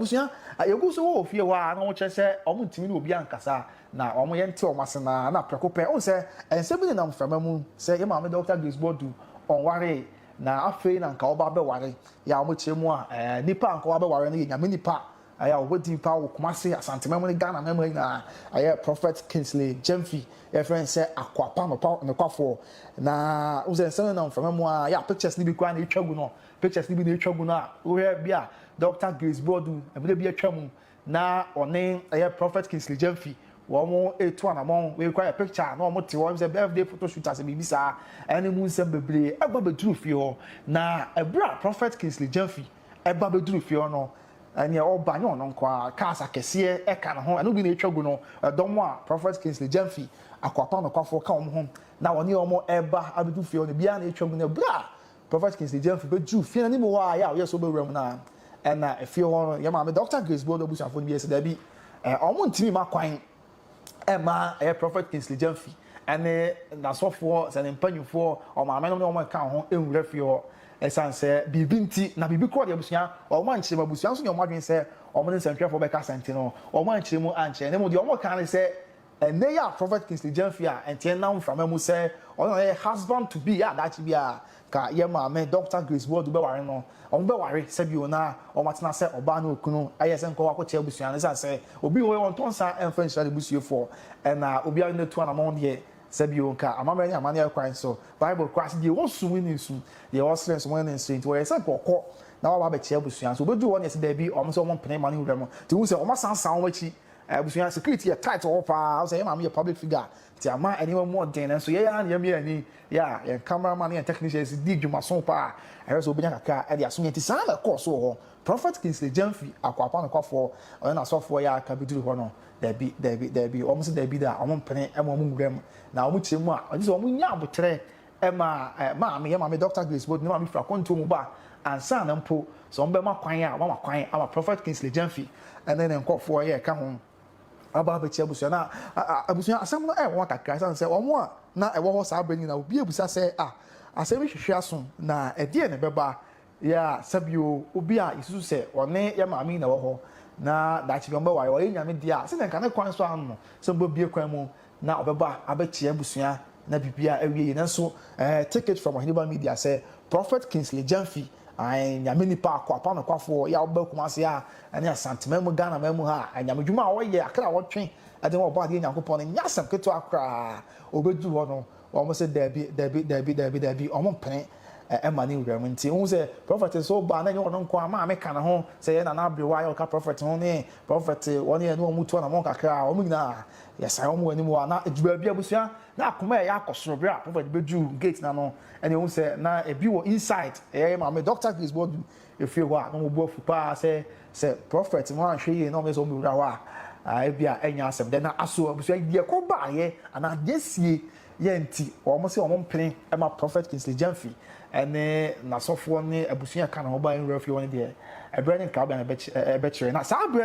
Abusua a yegu so wɔ wɔ fie hɔ a na wɔkyerɛ sɛ wɔntumi ne obiara nkasa na wɔyɛ nte wɔn ase no ara na prɛko pɛ wohu sɛ nsɛm bi nenam mframa mu sɛ yɛn maame Dɔkta Grace Boadu ɔnwaree na afei na nka ɔba abɛware yɛ a wɔkyerɛ mu a nnipa a nka wɔabɛware no yɛ Nyame nnipa a yɛ a wɔbɔ din paa wɔ Kumasi Asanteman mu ne Ghana mɛma nyinaa a yɛ Prophet Kingsley Gyamfi yɛfrɛ no sɛ Akoapa nokwafoɔ na wohu sɛ nsɛm nenam mframa mu a yɛ a pictures no bi koraa na ɛtwa gu no Pictures no bi na etwa gu no a, wohwɛ bi a Dɔkta Grace Bordu, mmere bi atwa mu na ɔne ɛyɛ Prɔfɛt Kingsley Gyamfi wɔn retu anamɔn, wei koraa yɛ picture a na wɔte hɔ, ɛyɛ me sɛ birthday photo shoot ase biribi saa, ɛne mu nsɛm bebree. Ɛba bɛduru fie hɔ, na ɛberɛ a Prɔfɛt Kingsley Gyamfi ɛba bɛduru fie hɔ no, ɛneɛ ɔba nyɛ ɔno nko ara, cars akɛseɛ ɛka ne ho, ɛno bi na etwa gu no, ɛdɔm a Prɔfɛt Kingsley Gyamfi, Akoapa nokwafoɔ ka wɔn ho, na wɔne wɔn ɛreba abɛdu fie hɔ no, biara na etwa gu no, ɛberɛ a Prophet Kingsley Gyamfi bɛduruu fie no anim hɔ ara, yɛ a ɔyɛɛ sɛ ɔbɛwura mu no ara, ɛnna efie hɔ no, yɛn maame Dɔkta Grace Boadu abusuafoɔ no bi yɛɛ sɛ daabi, ɛɛ, wɔntumi mma kwan mma ɛyɛ Prophet Kingsley Gyamfi ne n'asɔfoɔ, sɛ ne mpanimfoɔ, wɔn maamenom ne wɔn a ɛka ho nwura fie hɔ ɛsiane sɛ biribi nti, na biribi korɔ deɛ abusua, wɔn ankyerɛ mu, abusua nso nyɛ wɔn adwene sɛ wɔn ne nsɛntwerɛfoɔ bɛkasa nti no, wɔn ankyerɛ mu ankyerɛ, na mmom deɛ wɔkaa ne sɛ, Ɛnnɛ yi a Prophet Kingsley Gyamfi a ɛnteɛ nam mframa mu sɛ ɔno na ɔyɛ husband to be a daakye biara ka yɛn maame Dɔkta Grace Boadu bɛware no, wɔbɛware sɛ bio na wɔatena sɛ ɔbaa ne okunu ayɛ sɛ nkɔɔ akokyɛ abusua no ɛsiane sɛ obi wɔ hɔ a ɔntɔ nsa mfa nhyira ne busuafoɔ na obiara natu anamɔn deɛ sɛ bio nka amammerɛ ne amanneɛ kwan so Bible koraa se deɛ ɔsum ne nsu deɛ ɔsrɛ nso mone no nsrɛ nti wɔyɛ sɛ nka ɔkɔ na waba abɛkyɛ abusua nso ɔbɛduru hɔ na yɛse daabi wɔn se wɔmpene mma no nwura mu nti wohu sɛ wɔasansan wɔn akyi Abusua security yɛ tight wɔ hɔ paa, wohu sɛ yɛn maame yɛ public figure a, nti ama nneɛma mu ɔden, nanso yɛn ara na yɛamia yɛn ani, yɛ a yɛn camera man ne yɛn technicians di dwumaso paa a, ɛhwɛ sɛ wobenya kakra de asom yɛn, nti saa na ɛkɔɔ so wɔ hɔ. Prophet Kingsley Gyamfi, Akoapa nokwafoɔ, ɔne n'asɔfoɔ yɛ a aka bɛduru hɔ no, dabi, dabi, dabi, wɔn se dabi da, wɔn mpene ma wɔn nwura mu, na wɔn kyerɛ mu a, gye sɛ wɔnya aboterɛ Ɛma maame, yɛn maame Dɔkta Grace Bode ne maame firi akwantuo mu ba a, ansa na mpo sɛ wɔbɛma kwan a, wɔama kwan ama Prɔfɛt Kingsley Gyamfi ne ne nkorɔfoɔ a yɛka ho aba abɛkyia abusua no a abusua asɛm no ɛyɛ wɔn kakra ɛsiane sɛ wɔn a na ɛwɔ hɔ saa berɛ no nyinaa obiara bisa sɛ a asɛm yi hwehwɛ aso na ɛdeɛn na ɛbɛba Yɛ a, sɛ bi o, obi a yesusu sɛ ɔne yɛn maame yi na ɛwɔ hɔ, na daakye bi wɔbɛware, ɔyɛ Nyame de a, sɛnea anka ne kwan so ano no, sɛ mubebue kwan mu na ɔbɛba abɛkyɛ yɛn abusua na biribiara awie yie. Nanso, eh, take it from Ɔheneba Media sɛ Prophet Kingsley Gyamfi, ae, Nyame nipa, akoapa nokwafoɔ yi a ɔba Kumasi ha ne Asanteman mu, Ghanaman mu ha a, Nyame dwuma a ɔyɛ, akra a ɔtwe de ma Ɔbɔadeɛ Nyankopɔn no nyɛ asɛm ketewa koraa. Obedu hɔ no, Wɔn se daabi, daabi, daabi, daabi, daabi, wɔn mpene ɛma ne wura mu. Nti wohu sɛ prɔfɛt nso ba a na ɛnyɛ ɔno nko ara, maame ka ne ho, sɛ yɛ Nana Aberewa yɛ ɔka prɔfɛt ho ne prɔfɛt wɔn yɛ ne wɔn to anamɔn kakra a, wɔn nyinaa yɛsan wɔn wɔ anim a na ɛdu baabi abusua na akoma ɛyɛ akɔ soro berɛ a prɔfɛt bɛduru gate no ano ɛne wohu sɛ na ɛbi wɔ inside ɛyɛ yɛ maame Dɔkta Grace Boadu Efii hɔ a, na wɔn bo afu paa sɛ sɛ prɔfɛt no anhwɛ yie na wɔyɛ sɛ wɔbɛwura hɔ a, ebia ɛrenyɛ asɛm. Dɛn na aso abusua deɛ ɛkɔ baeɛ anaa deɛ asie yɛ nti, wɔn se wɔn mpene ma Prɔfɛt Kingsley Gyamfi ne n'asɔfoɔ ne abusua a ɛka ne ho baeɛ no wura fie hɔ no deɛ, ɛberɛ ne nkrabea na ɛbɛkyerɛ. Na saa berɛ no.